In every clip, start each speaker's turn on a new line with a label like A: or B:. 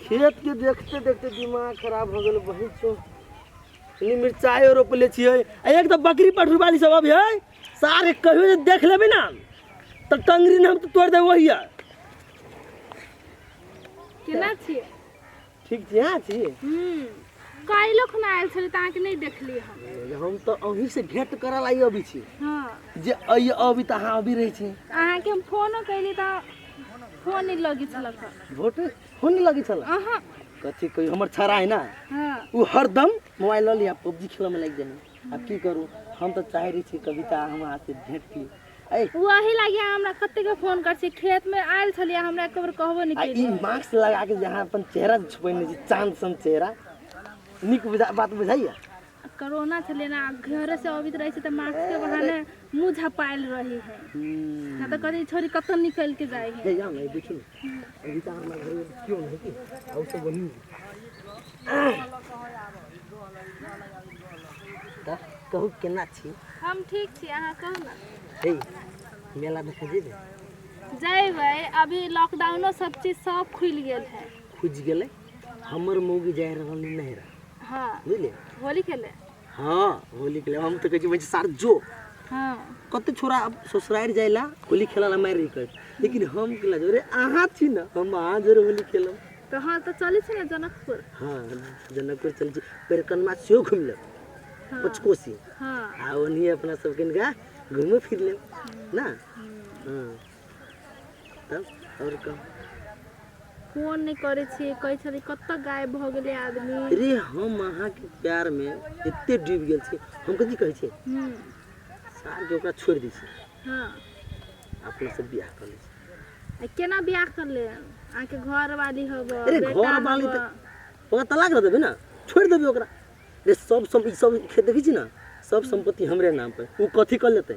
A: खेत के देखते देखते दिमाग खराब हो गेल बहिन सो इन्हीं मिर्चाई और रोपले छिए आ एक तो बकरी पठरू वाली सब अभी है सारे कहियो जे देख लेबे ना तो टंगरी नाम तो तोड़ देबो हिया केना छियै ठीक छी अहाँ छी हूँ काल्हिओ खुना आयल छलै तऽ अहाँके नहि देखलियै हम हम तऽ अहीं से भेंट करऽ ला अभी छी हँ जे अइ अभी तऽ अहाँ अभी रहै छी अहाँके हम फोनो कयली तऽ फोन नहि लगै छलक हँ। वोट फोन नहि लगै छल अहाँ कथी कहियो हमर छड़ा है ना हँ उ हरदम मोबाइल लऽ लिया पबजी खेलऽ में लागि जाए आब की करू हम तऽ चाहे रही छी कविता हम अहाँ से भेंट की ओ अही लागी अहाँ हमरा कतेक के फोन कर छी खेत में आयल छलियै हमरा एको बेर कहबो नहि आ ई केलियै मास्क लगा के जहाँ अपन चेहरा जे छुपेने छी चांद सन चेहरा नीक बुझा बात बुझाइया कोरोना छलै ने आ घरे से अबैत रहै छै तऽ मास्क के बहाने मुंह झपायल रही है ना तऽ कहै छोरी कतौ निकल के जाइ है हे जाओ ना ये देखिए ना तऽ कहू केना छी हम ठीक छी अहाँ कहू ने हे मेला देखै जेबै जयबै अभी लॉकडाउनो सब चीज सब खुलि गेल है खुजि गेलै हमर मौगी जाय रहल नहिरा हाँ बुझलियै होली खेले हाँ होली खेले हम तो कहे छी सार जो हाँ कते छोरा अब ससुराल जाइला होली खेला ला मार रही लेकिन हम केला जो रे आहा छी ना हम आहा जरूर होली खेलो तो हाँ तो चले छी ना जनकपुर हाँ जनकपुर चले छी पर कनमा सेहो घूम ले हाँ। पचकोसी हाँ आ ओनी अपना सब किनका घूमे फिर ले ना हम्म। हाँ तब और कह फोन नहि करै छियै कहै छलियै कतऽ गायब भऽ गेलै आदमी अरे हम अहाँ के प्यार में एते डूब गेल छी हम कथी कहै छी हूँ सार के ओकरा छोड़ दै छी हँ अपना से बियाह कर लै छी आ केना बियाह कर ले अहाँके घर वाली हब अरे घर वाली तऽ ओकरा तलाक दऽ देबै ने छोड़ि देबै ओकरा रे सब सम ई सब खेत देखै छी ने सब सम्पत्ति हमरे नाम पर ओ कथी कर लेतै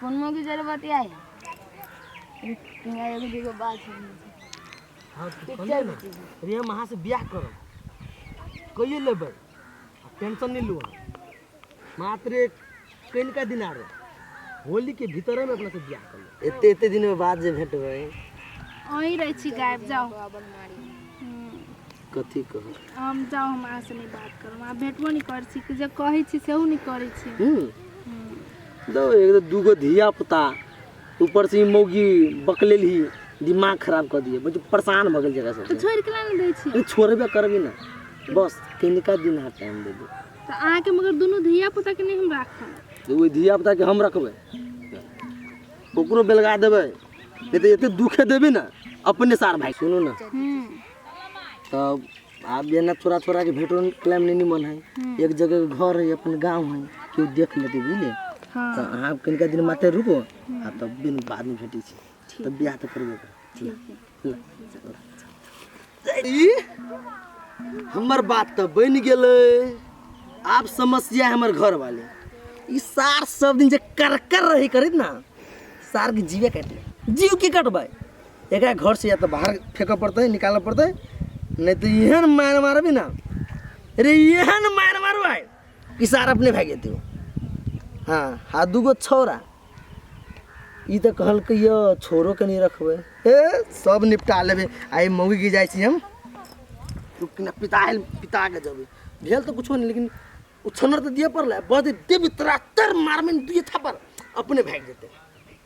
A: फोन में की जरूरत बतिया है यहाँ एगो दूगो बात है हाँ तू पिक्चर कहले ना में चीज़ है। रे हम अहाँ से ब्याह करब कहिए लेबै आ टेंशन नहीं लू मात्र एक कनिका दिन आरो होली के भीतर में अपना से ब्याह कर लेब। एते एते दिन में बाद जे भेटबै अहीं रहै छी गायब जाओ कथी कहब हम जाउ हम अहाँ से नहि बात करब अहाँ भेटबो नहि करै छी कि जे कहै छी सेहो नहि करै छी हम्म? हम्म। दो एक तो दूगो धिया पुता ऊपर से ई मौगी बकलेल ही दिमाग खराब कर दिए मुझे परेशान भगल जगह तऽ से छोड़ि के नहि दै छी नहीं छोड़बे करबी ना बस तिनका दिन अहाँ टाइम दे दो तऽ अहाँके मगर दुनू धिया पुता के नहि हम राखब तो वही धिया पुता के हम रखबे ओकरो बेलगा देबे नहीं तो एते दुखे देबी ना अपने सार भाई सुनू ना हम्म। तब आब जेना थोड़ा थोड़ा के भेटो क्लाइम नहीं निमन है एक जगह के घर है अपन गांव है केओ देख लेते बुझलिए हाँ तऽ अहाँ कनिका दिन माते रुको आ तब दिन बाद में भेटै छी तब बियाह तऽ करबे करब। ई हमर बात तऽ बनि गेलै आब समस्या है हमर घर वाले ई सार सब दिन जे करकर रही करित ना सार के जीवे काटि ले जीव की कटबै एकरा घर से या तो बाहर फेंकऽ पड़तै निकालऽ पड़तै नहीं तो एहन मार मारबी ना अरे एहन मार मारू आय कि सार अपने भाग जेतै ओ। हाँ आ दूगो छौरा ई तऽ कहलकै यऽ छोरो के नहीं रखबै ए सब निपटा लेबै आइ मौगी के जाइ छी हम तू कि ना पिता आयल पिता के जेबै भेल तऽ कुछो नहीं लेकिन उछन्नर तऽ दिए पड़लै बदे देवी तोरा तर मारमे दुए थप्पड़ अपने भाग जेतै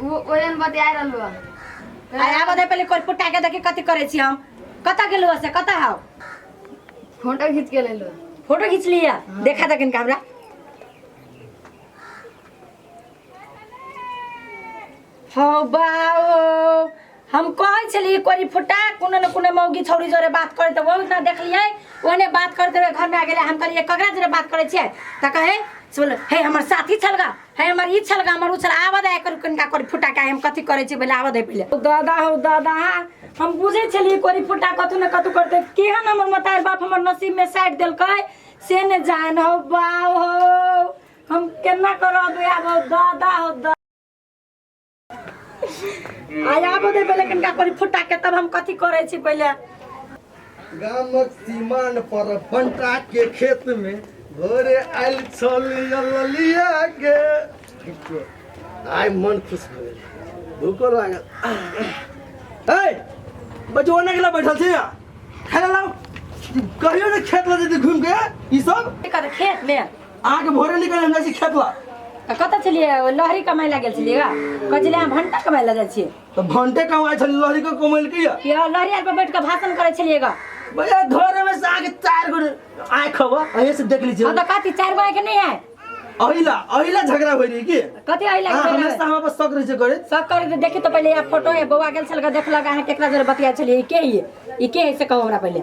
A: उ ओयन बतिया रहलो आ आबो दे पहिले कोल पुटा के देखी कथी करे छी हम कत गेलु से कत हाउ फोटो खींच के लेलो फोटो खींच लिया देखा दे किनका हमरा हौ बाओ हम कहै छलिए कोरी फुटा कोनो न कोनो मौगी छौरी जोरे बात करे त बहुत ना देखलिए ओने बात करते हुए घर में आ गेले हम कहलिए ककरा जोरे बात करे छिए त कहे से बोले हे हमर साथी छलगा हे हमर ई छलगा हमर उ छल आबद आय कर कनका कोरी फुटा का हम कथी करे छी बोले आबद है पहिले ओ दादा हो दादा हम बुझे छलिए कोरी फुटा कथु न कथु करते केहन हमर मतार बाप हमर नसीब में साइड देलकै से ने जान हो बाव हो हम केना करब आब हो दादा हो दादा आज आबो दे पहिले कनिका करी फुटा के तब हम कथी करै छी पहिले गामक सीमान पर बंटा के खेत में भोरे आयल छल ललिया के आय मन खुश हो गेल भूखो लागल ए बच्चो ओने के ला बैठल छी खाना लाओ कहियो ने खेत लऽ जेतै घूम के ई सब एकर खेत में अहाँके भोरे निकल हमरा से खेत ला तऽ कतऽ छलियै ओ लहरी कमाइ लए गेल छलियै गा कहै छलियै अहाँ भंटा कमाइ लए जाइ छियै तो भंटे कमाए छल लहरी के कमैल किया कि अहाँ लहरी आर पर बैठ कऽ भाषण करै छलियै गा भैया घरे में से आके चार गो आए खबा अहे से देख लीजिए हँ तऽ कथी चारि गो आइके नहि है अहिला अहिला झगड़ा होई रही की कथी आइ हाँ, लगे हमेशा हमरा पर शक रही छै करे सब करे तऽ देखी तऽ पहिले यार फोटो है बौआ गेल छल देखलक अहाँ केकरा जरे बतिया छलियै ई के है ई के है से कहू हमरा पहिले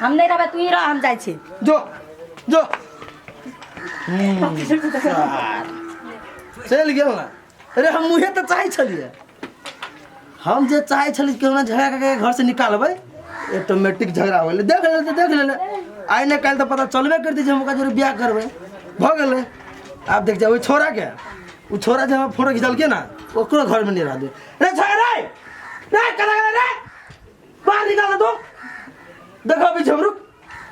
A: हम नहीं रहबे तू ही रह हम जाय छी जो जो चलि गेल ने अरे हम मुहे तऽ चाहै छलियै हम जे चाहै छलियै कि हमरा झगड़ा कऽ घर से निकालबै ऑटोमेटिक झगड़ा हो गेलै देख लेले तऽ देख लेले आइ ने काल्हि तऽ पता चलबे करतै जे हम ओकरा जोरे बियाह करबै भऽ गेलै आब देख जाओ ओहि छोरा के ओ छोरा जे हमरा फोटो खिचलकै ने ओकरो घरमे नहि रहतै रे छोड़ रे रे कला कला रे बाहर निकाल दो देखो अभी झमरू